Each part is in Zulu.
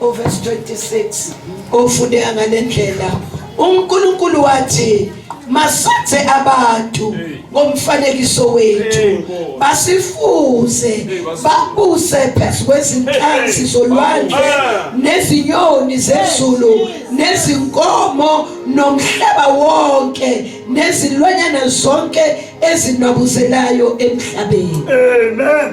uverse 26 ufundeka ngale ndlela uNkulunkulu wathi masenze abantu ngomfanekiso wethu basifuze babuse phezu kwezinhlanzi zolwandle nezinyoni zezulu nezinkomo nomhlaba wonke nezilwanyana zonke ezinabuzelayo emhlabeni amen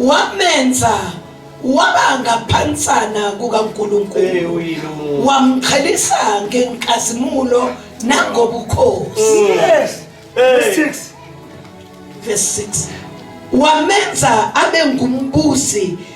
wamenza waba ngaphansana kukaNkulunkulu wamqhelisa ngenkazimulo nangobukhosi mm. yes verse 6 verse 6 wamenza abe ngumbusi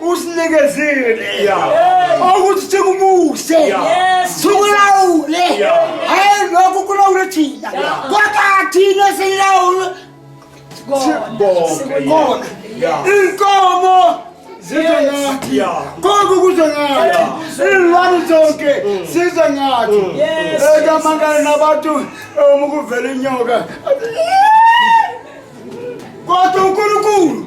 usinikezile ukuthi sikubuse sikulawule hayi lokhu kulawule thina kodwa thina silawule sikona inkomo zize ngathi konke kuze ngathi iy'lwane zonke size ngathi ekamangane nabantu uma kuvela inyoka kodwa unkulunkulu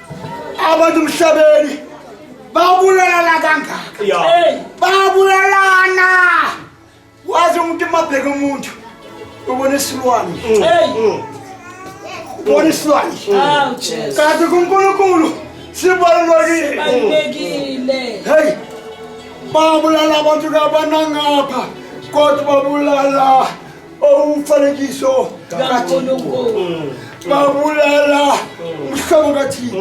abantu emhlabeni babulalana kangaka babulalana wazi umuntu emabheke umuntu ubona isilwane ubona isilwane kanti kunkulunkulu sibalulekile heyi babulala abantu kabanangapha kodwa babulala umfanekiso kaNkulunkulu babulala umhlobo kaThixo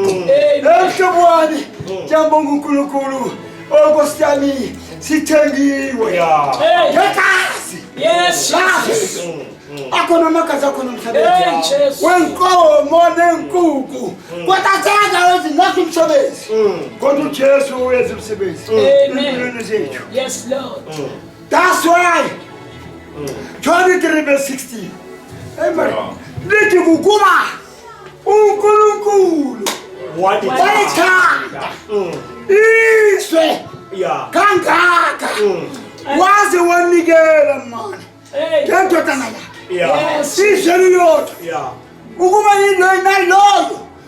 emhlobo wami ndiyambonga uNkulunkulu okosi yami sithengiwe ngegazi akhona amagazi akhona umsebenzi wenkomo nenkuku kodwa senza ezingathi umsebenzi kodwa ujesu uyenza umsebenzi empilweni zethu That's why 23 verse 16. Amen. Lithi kukuba uNkulunkulu walithanda mm. izwe kangaka mm. waze wanikela mani ngendodana yakhe izwe liyodwa ukuba yinto inaloyo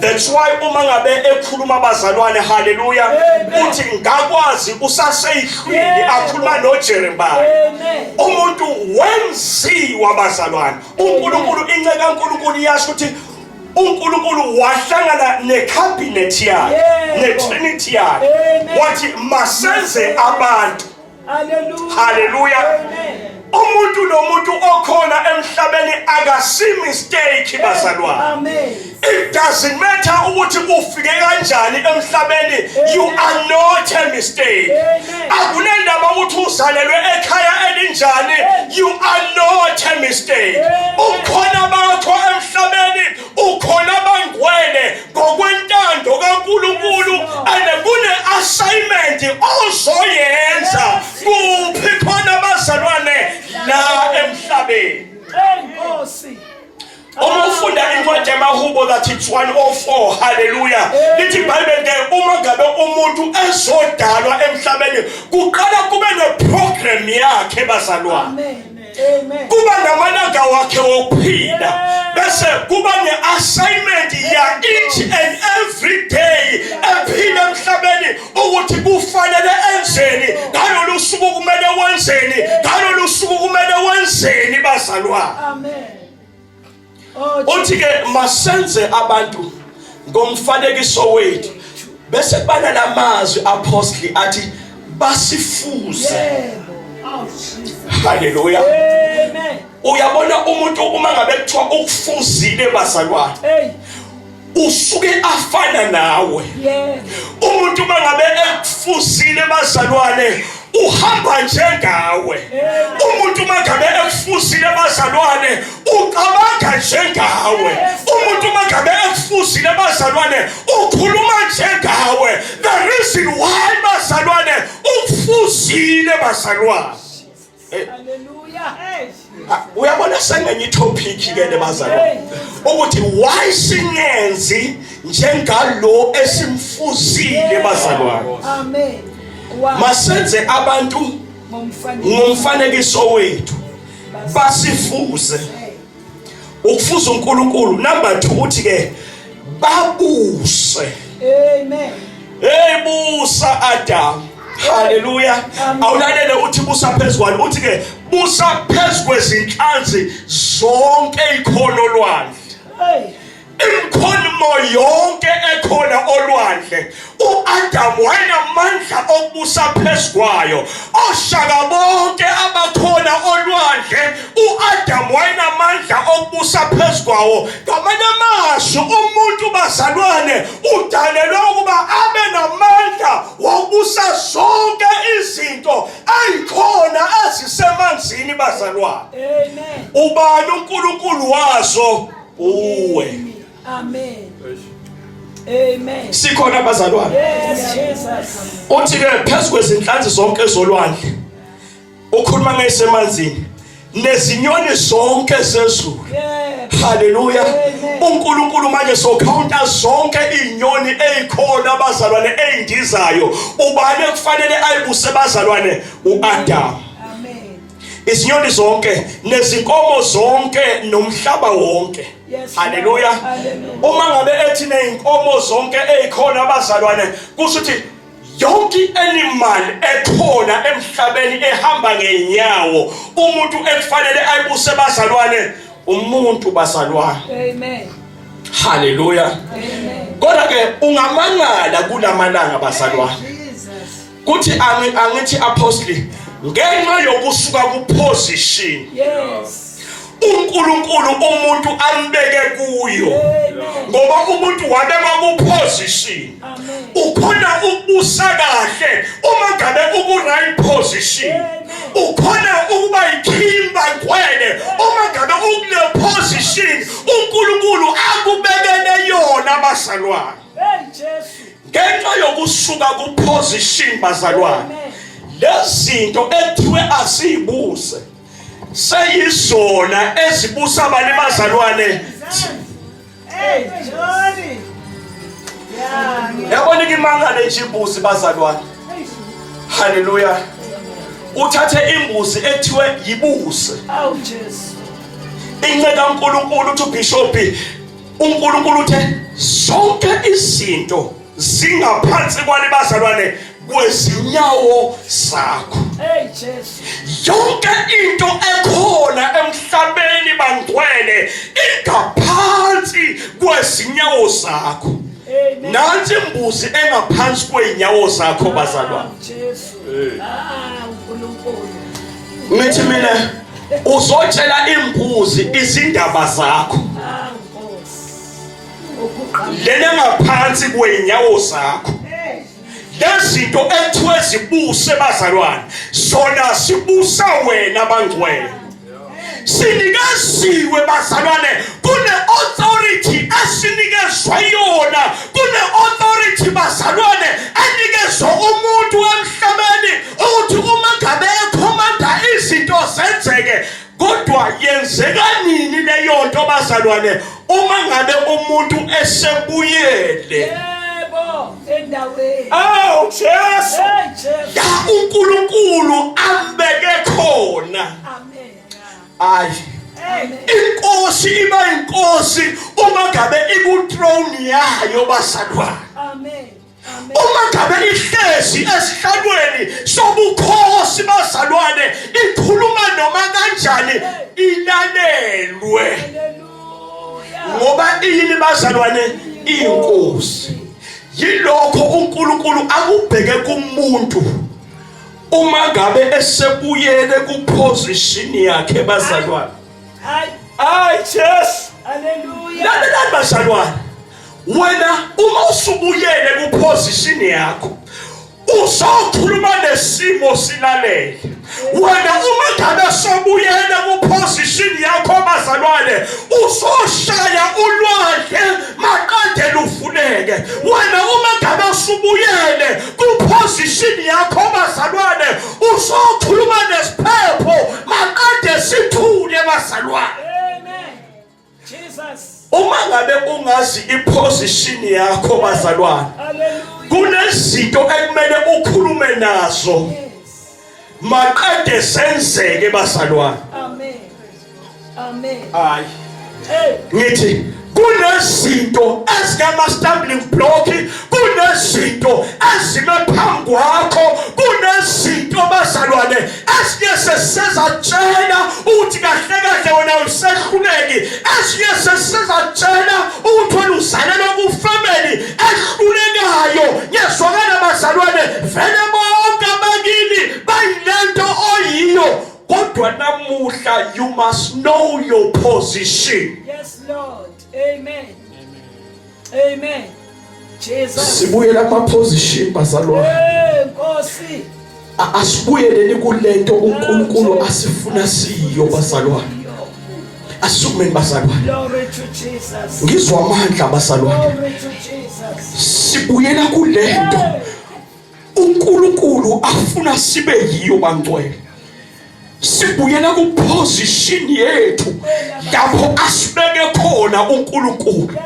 That's why uma ngabe ekhuluma abazalwane haleluya uthi ngakwazi usaseyihlwili akhuluma noJeremiah umuntu wenziwa abazalwane uNkulunkulu inceke kaNkulunkulu iyasho ukuthi uNkulunkulu wahlangana necabinet yakhe netrinity yakhe wathi masenze abantu haleluya umuntu nomuntu okhona emhlabeni akasi mistake bazalwane it doesn't matter ukuthi ufike kanjani emhlabeni you are not a mistake akunendaba ukuthi uzalelwe ekhaya elinjani you are not a mistake ukhona bakho emhlabeni ukhona abangcwele ngokwentando kaNkulunkulu and kune assignment ozoyenza kuphi khona abazalwane la emhlabeni enkosi uma ufunda incwadi yamahubo that it's 104 haleluya lithi ibhayibheli ke uma ngabe umuntu ezodalwa emhlabeni kuqala kube neprogram yakhe bazalwane kuba namalanga wakhe wokuphila bese kuba ne-assignment ya each and every day ephila emhlabeni ukuthi kufanele enzeni ngalolu suku kumele wenzeni ngalolu suku kumele wenzeni bazalwane uthi ke masenze abantu ngomfanekiso wethu bese kubana lamazwi apostoli athi basifuze haleluya uyabona umuntu uma ngabe kuthiwa ukufuzile bazalwane usuke afana nawe umuntu uma ngabe ekufusile bazalwane uhamba njengawe umuntu uma ngabe ekufusile bazalwane ucabanga njengawe umuntu uma ngabe ekufusile bazalwane ukhuluma njengawe the reason why bazalwane ukufusile bazalwane Eh. Ah, uyabona sengenye itopic ke le bazalwane ukuthi why singenzi njengalo esimfuzile bazalwane amen masenze abantu ngomfanekiso wethu basifuze ukufuza uNkulunkulu number 2 uthi ke babuse amen hey busa adam haleluya awulalele uthi busa phezulu uthi ke busa phezulu kwezinhlanzi zonke ikhono lwandle imkhulumo yonke ekhona olwandle uAdam wayenamandla okubusa phezukwayo oshaka bonke abakhona olwandle uAdam wayenamandla okubusa phezukwawo ngamanye amazwi umuntu bazalwane udalelwe ukuba abe namandla wokubusa zonke izinto ayikhona ezisemanzini bazalwane ubani uNkulunkulu wazo uwe. Amen. Amen. Sikhona abazalwane. Yes, Jesus. Uthi ke phezulu kwezinhlanzi zonke zolwandle. Ukhuluma ngesemanzini. Nezinyoni zonke zezulu. Haleluya. uNkulunkulu manje sokhawunta zonke izinyoni ezikhona abazalwane ezindizayo ubani ekufanele ayibuse bazalwane uAdam izinyoni zonke nezinkomo zonke nomhlaba wonke haleluya uma ngabe ethi nezinkomo zonke ezikhona abazalwane kusho ukuthi yonke animal ekhona emhlabeni ehamba ngenyawo umuntu ekufanele ayibuse bazalwane umuntu bazalwane amen haleluya amen kodwa ke ungamangala kulamalanga bazalwane kuthi angithi apostle ngenxa yokusuka kuposition yes uNkulunkulu umuntu ambeke kuyo ngoba umuntu wabekwa kuposition ukhona ukubusa kahle uma ngabe uku right position ukhona ukuba yikhimba kwene uma ngabe ukule position uNkulunkulu akubekele yona basalwane ngenxa yokusuka kuposition bazalwane lezinto ethiwe asiyibuze seyizona ezibusa abanye bazalwane yabona ikimangane nje imbuzi bazalwane haleluya uthathe imbuzi ethiwe yibuse inceka uNkulunkulu uthi ubishop uNkulunkulu uthe zonke izinto zingaphansi kwani bazalwane kwezinyawo zakho hey Jesu yonke into ekhona emhlabeni bangcwele ingaphansi kwezinyawo zakho nansi imbuzi engaphansi kweenyawo zakho bazalwane ngithi mina uzotshela imbuzi izindaba zakho lena ngaphansi kwenyawo zakho lezinto ekuthiwe zibuse bazalwane zona sibusa wena bangcwele sinikeziwe bazalwane kune-authority esinikezwa yona kune-authority bazalwane enikezwa umuntu emhlabeni ukuthi uma ngabe ekhomanda izinto zenzeke kodwa yenzeka nini leyo nto bazalwane uma ngabe umuntu esebuyele yebo endaweni awu Jesu la uNkulunkulu ambeke khona amen ayi inkosi iba inkosi uma ngabe iku throne yayo basalwana amen uma ngabe ihlezi esihlalweni sobukhosi bazalwane ikhuluma noma kanjani ilalelwe ngoba iyini bazalwane inkosi yilokho uNkulunkulu akubheke kumuntu uma ngabe esebuyele kuposition yakhe bazalwane hayi hayi Jesu haleluya lalelani bazalwane wena uma usubuyele kuposition yakho uzokhuluma nesimo silalele wena uma ngabe sobuyela kuposition yakho bazalwane uzoshaya ulwandle maqede lufuneke wena uma ngabe usubuyele kuposition yakho bazalwane uzokhuluma nesiphepho maqede sithule bazalwane uma ngabe ungazi iposition yakho bazalwane kunezinto ekumele ukhulume nazo maqede senzeke bazalwane amen amen hayi ngithi kunezinto ezingama stumbling block kunezinto ezime phambi kwakho kunezinto bazalwane esinye sesizatshela ukuthi kahle kahle wena usehluleki esinye sesizatshela ukuthi wena uzalelwe kufamily ehlulekayo ngiyezwakala bazalwane vele bonke abakini bayilento oyiyo kodwa namuhla you must know your position yes lord amen Amen. Jesus. Sibuyela kuma position bazalwane. Hey Nkosi. Asibuyeleni kulento uNkulunkulu asifuna siyo bazalwane. Asumeni bazalwane. Glory to Jesus. Ngizwa amandla bazalwane. Glory to Jesus. Sibuyela kulento. Hey. uNkulunkulu afuna sibe yiyo bangcwele sibuyela ku position yethu lapho asibeke khona uNkulunkulu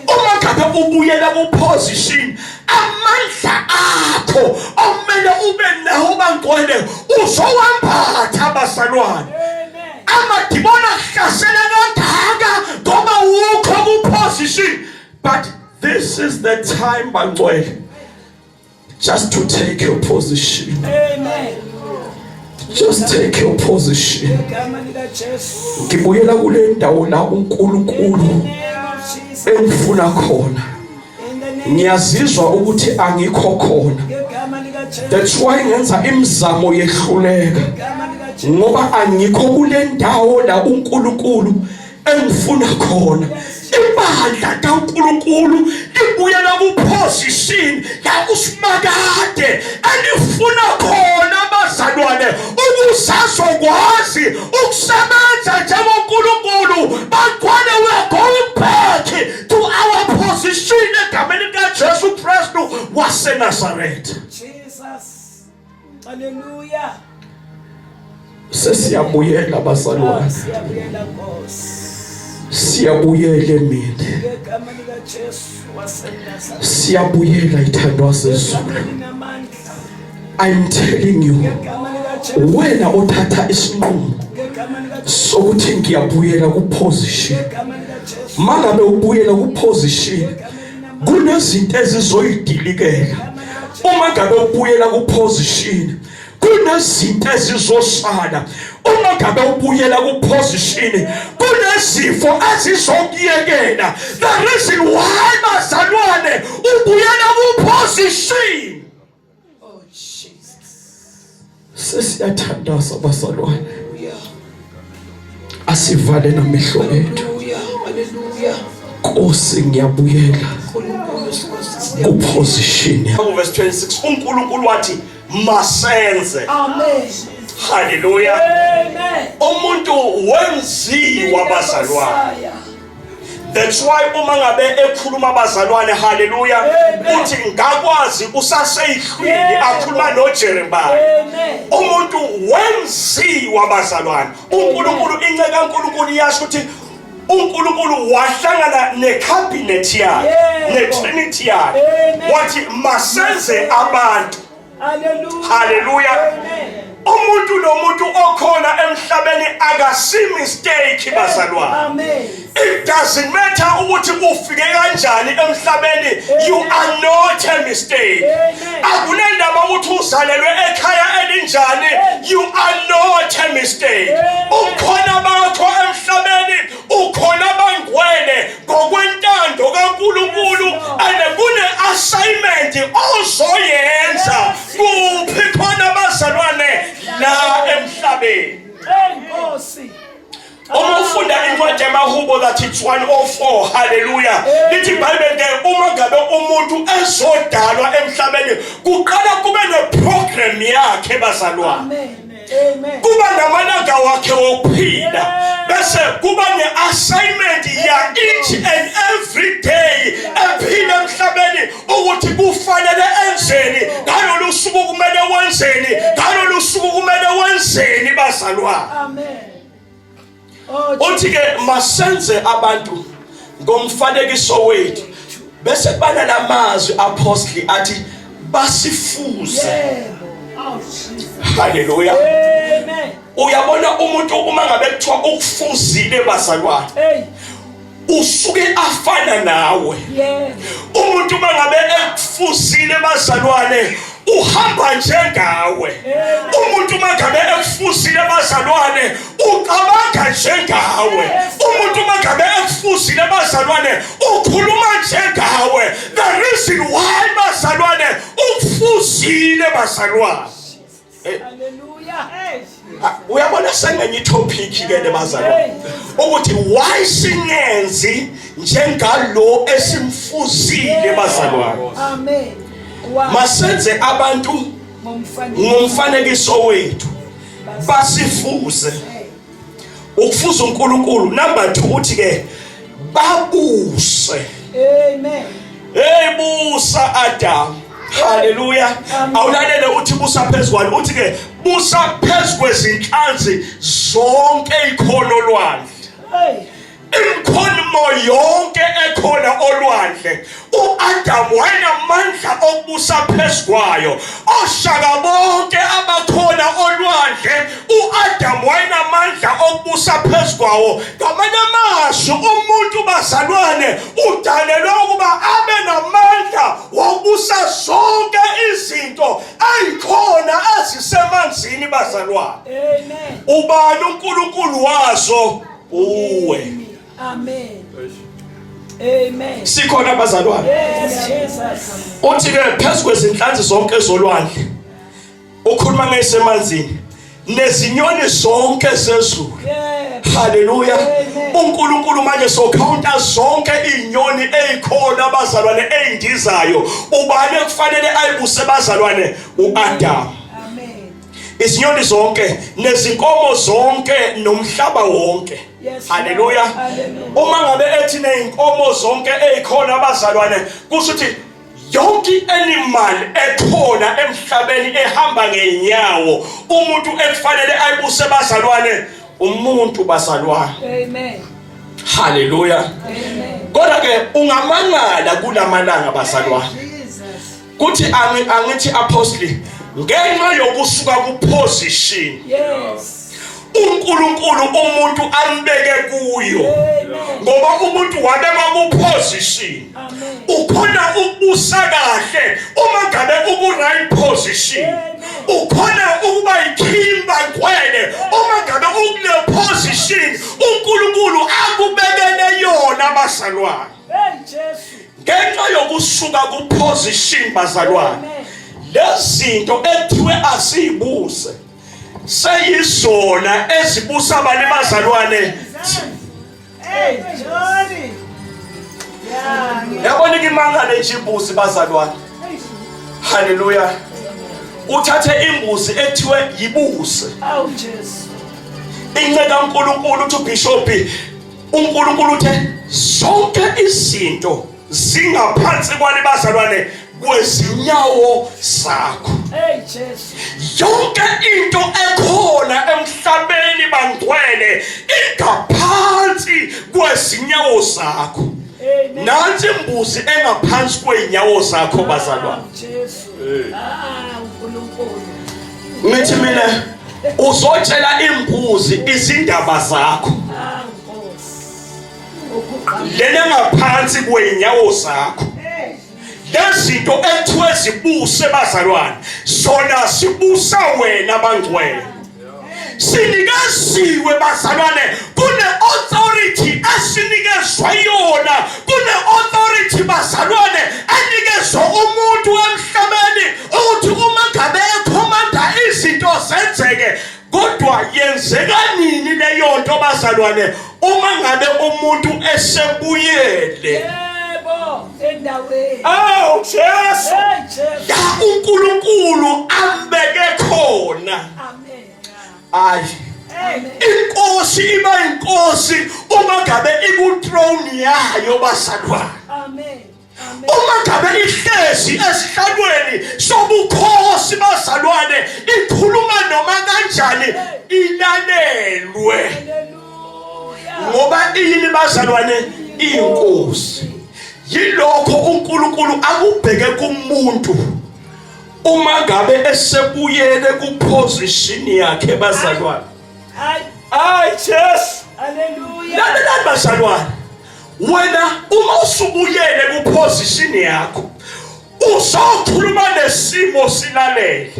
uma ngabe ubuyela ku position amandla akho omele ube nawo bangcwele uzowambatha abasalwane amadimona ahlasela kangaka ngoba wukho ku position but this is the time bangcwele Just to take your position. Amen. Just take your position. Ngibuyela kule ndawo la uNkulunkulu engifuna khona. Ngiyazizwa ukuthi angikho khona. That's why ngenza imizamo yehluleka. Ngoba angikho kule ndawo la uNkulunkulu engifuna khona ibandla kaNkuluNkulu libuyela kuposition yakusimakade elifuna khona abazalwane ukusazokwazi ukusebenza njengoNkuluNkulu bagcwale we are going back to our position egameni likaJesu Kristu waseNazaretha Haleluya. Sesiyabuyela bazalwane. Ah, siyabuyela Nkosi. Siyabuyela emini. Ngegama lika Jesu waseNazareth. Siyabuyela ithandwa sezulu. I'm telling you. Wena othatha isinqumo sokuthi ngiyabuyela ku position. Mangabe ubuyela ku position kunezinto ezizoyidilikela uma ngabe ubuyela kuposition kunezinto ezizosala uma ngabe ubuyela kuposition kunezifo ezizokuyekela the reason why bazalwane ubuyela kuposition Oh Jesus. Sesiyathandaza basalwane. Asivale namehlo ethu. Hallelujah. Nkosi ngiyabuyela. Ku position. Verse 26 uNkulunkulu wathi masenze. Amen. Hallelujah. Amen. Umuntu wenziwa bazalwane. That's why uma ngabe ekhuluma abazalwane haleluya uthi ngakwazi usaseyihlwini akhuluma noJeremiah umuntu wenziwa abazalwane uNkulunkulu inceke kaNkulunkulu iyasho ukuthi uNkulunkulu wahlangana necabinet yakhe netrinity yakhe wathi masenze abantu haleluya umuntu nomuntu okhona emhlabeni akasi mistake bazalwane it doesn't matter ukuthi ufike kanjani emhlabeni you are not a mistake akunendaba ukuthi uzalelwe ekhaya elinjani you are not a mistake ukhona bakho emhlabeni ukhona abangcwele ngokwentando kaNkulunkulu and kune assignment ozoyenza kuphi khona abazalwane la emhlabeni enkosi uma ufunda incwadi yamahubo that it's 104 haleluya lithi bible ke uma ngabe umuntu ezodalwa emhlabeni kuqala kube neprogram yakhe bazalwane kuba namalanga wakhe wokuphila bese kuba ne-assignment ya each and every day ephila emhlabeni ukuthi kufanele enzeni ngalolu suku kumele wenzeni ngalolu suku kumele wenzeni bazalwane uthi ke masenze abantu ngomfanekiso wethu bese bana lamazwi apostoli athi basifuze haleluya uyabona umuntu uma ngabe kuthiwa ukufuzile bazalwane usuke afana nawe umuntu uma ngabe ekufuzile bazalwane uhamba njengawe umuntu uma ngabe ekufuzile bazalwane ucabanga njengawe umuntu uma ngabe ekufuzile bazalwane ukhuluma njengawe the reason why bazalwane ukufuzile bazalwane Eh. Ah, uyabona sengenye itopic ke le bazalwane ukuthi why singenzi njengalo esimfuzile bazalwane amen masenze abantu ngomfanekiso wethu basifuze ukufuza uNkulunkulu number 2 uthi ke babuse amen hey busa adam haleluya awulalele uthi busa phezulu uthi ke busa phezulu kwezinhlanzi zonke ikhono lwandle imkhulumo yonke ekhona olwandle uAdam wayenamandla okubusa phezukwayo oshaka bonke abakhona olwandle uAdam wayenamandla okubusa phezukwawo ngamanye amazwi umuntu bazalwane udalelwe ukuba abe namandla wokubusa zonke izinto ayikhona ezisemanzini bazalwane ubani uNkulunkulu wazo uwe. Amen. Amen. Sikhona abazalwane. Yes, Jesus. Uthi ke phezulu kwezinhlanzi zonke zolwandle. Ukhuluma ngesemanzini. Nezinyoni zonke zezulu. Haleluya. uNkulunkulu manje sokhawunta zonke izinyoni ezikhona abazalwane ezindizayo ubani ekufanele ayibuse bazalwane uAdam izinyoni zonke nezinkomo zonke nomhlaba wonke haleluya uma ngabe ethi nezinkomo zonke ezikhona abazalwane kusho ukuthi yonke animal ekhona emhlabeni ehamba ngenyawo umuntu ekufanele ayibuse bazalwane umuntu bazalwane amen haleluya amen kodwa ke ungamangala kulamalanga bazalwane kuthi angithi apostle ngenxa yokusuka kuposition yes uNkulunkulu umuntu ambeke kuyo ngoba umuntu wabekwa kuposition ukhona ukubusa kahle uma ngabe uku right position ukhona ukuba yikhimba kwene uma ngabe ukule position uNkulunkulu akubekele yona basalwane ngenxa yokusuka kuposition bazalwane lezinto ekuthiwe asiyibuze seyizona ezibusa abanye bazalwane yabona ikimangane nje imbuzi bazalwane haleluya uthathe imbuzi ekuthiwe yibuse inceka unkulunkulu uthi ubhishobhi uNkulunkulu uthe zonke izinto zingaphansi kwani bazalwane kwezinyawo zakho hey Jesu yonke into ekhona emhlabeni bangcwele ingaphansi kwezinyawo zakho nansi imbuzi engaphansi kweenyawo zakho bazalwane ngithi mina uzotshela imbuzi izindaba zakho lena ngaphansi kwenyawo zakho lezinto ekuthiwe zibuse bazalwane zona sibusa wena bangcwele sinikeziwe bazalwane kune authority esinikezwa yona kune authority bazalwane enikezwa umuntu emhlabeni ukuthi uma ngabe ekhomanda izinto zenzeke kodwa yenzeka nini leyo nto bazalwane uma ngabe umuntu esebuyele yebo endaweni awu Jesu la uNkulunkulu ambeke khona amen ayi inkosi iba inkosi uma ngabe iku throne yayo basalwana amen uma ngabe ihlezi esihlalweni sobukhosi bazalwane ikhuluma noma kanjani ilalelwe ngoba iyini bazalwane inkosi yilokho uNkulunkulu akubheke kumuntu uma ngabe esebuyele kuposition yakhe bazalwane hayi hayi Jesu haleluya lalelani bazalwane wena uma usubuyele kuposition yakho uzokhuluma nesimo silalele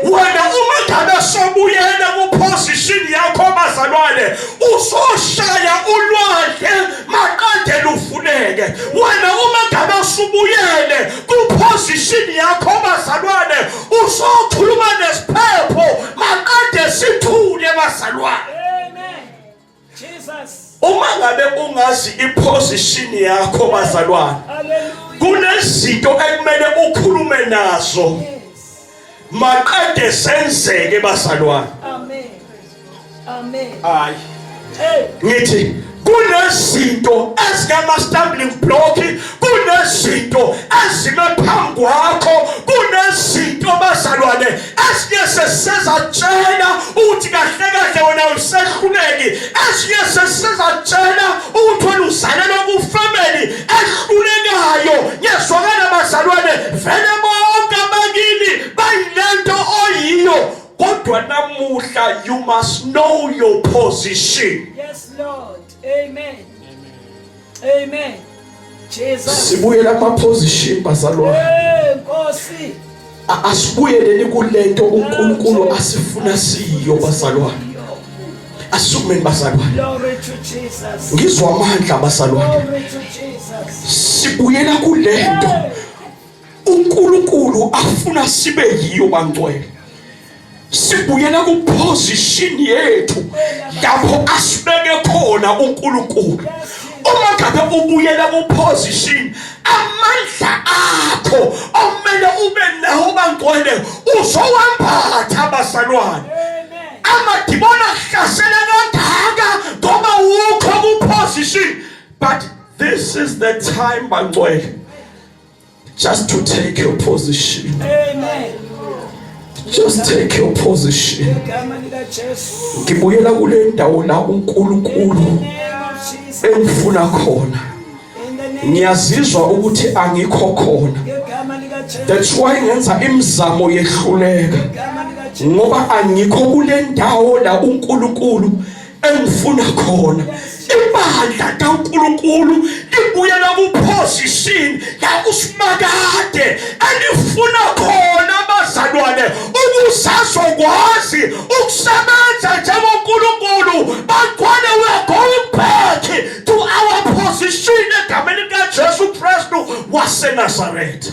wena uma ngabe sobuyela kuposition yakho bazalwane uzoshaya ulwandle maqede lufuneke wena uma ngabe usubuyele kuposition yakho bazalwane uzokhuluma nesiphepho maqede sithule bazalwane uma ngabe ungazi iposition yakho bazalwane kunezinto ekumele ukhulume nazo maqede senzeke bazalwane amen amen ayi ngithi kunezinto ezingama stumbling block kunezinto ezime phambi kwakho kunezinto bazalwane esinye sesizatshela ukuthi kahle kahle wena usehluleki esinye sesizatshela ukuthi wena uzalelwe kufamily ehlulekayo ngiyezwakala bazalwane vele bonke abakini bayilento oyiyo kodwa namuhla you must know your position yes lord amen Amen. Jesus. Sibuyela kwa position bazalwane. Eh Nkosi. Asibuyeleni kulento uNkulunkulu asifuna siyo bazalwane. Asumeni bazalwane. Glory to Jesus. Ngizwa amandla bazalwane. Glory to Jesus. Sibuyela kulento. Hey. uNkulunkulu afuna sibe yiyo bangcwele sibuyela kuposition yethu lapho asibeke khona uNkulunkulu uma ngabe ubuyela kuposition amandla akho omele ube nawo bangcwele uzowambatha abazalwane amadimona ahlasela kangaka ngoba wukho kuposition but this is the time bangcwele Just to take your position. Amen. Just take your position. Ngibuyela kule ndawo la uNkulunkulu engifuna khona. Ngiyazizwa ukuthi angikho khona. That's why ngenza imizamo yehluleka. Ngoba angikho kule ndawo la uNkulunkulu engifuna khona ibandla kaNkuluNkulu libuyela kuposition la usimakade elifuna khona abazalwane ukusazokwazi ukusebenza njengoNkuluNkulu bagcwale we are going back to our position egameni likaJesu Kristu waseNazaretha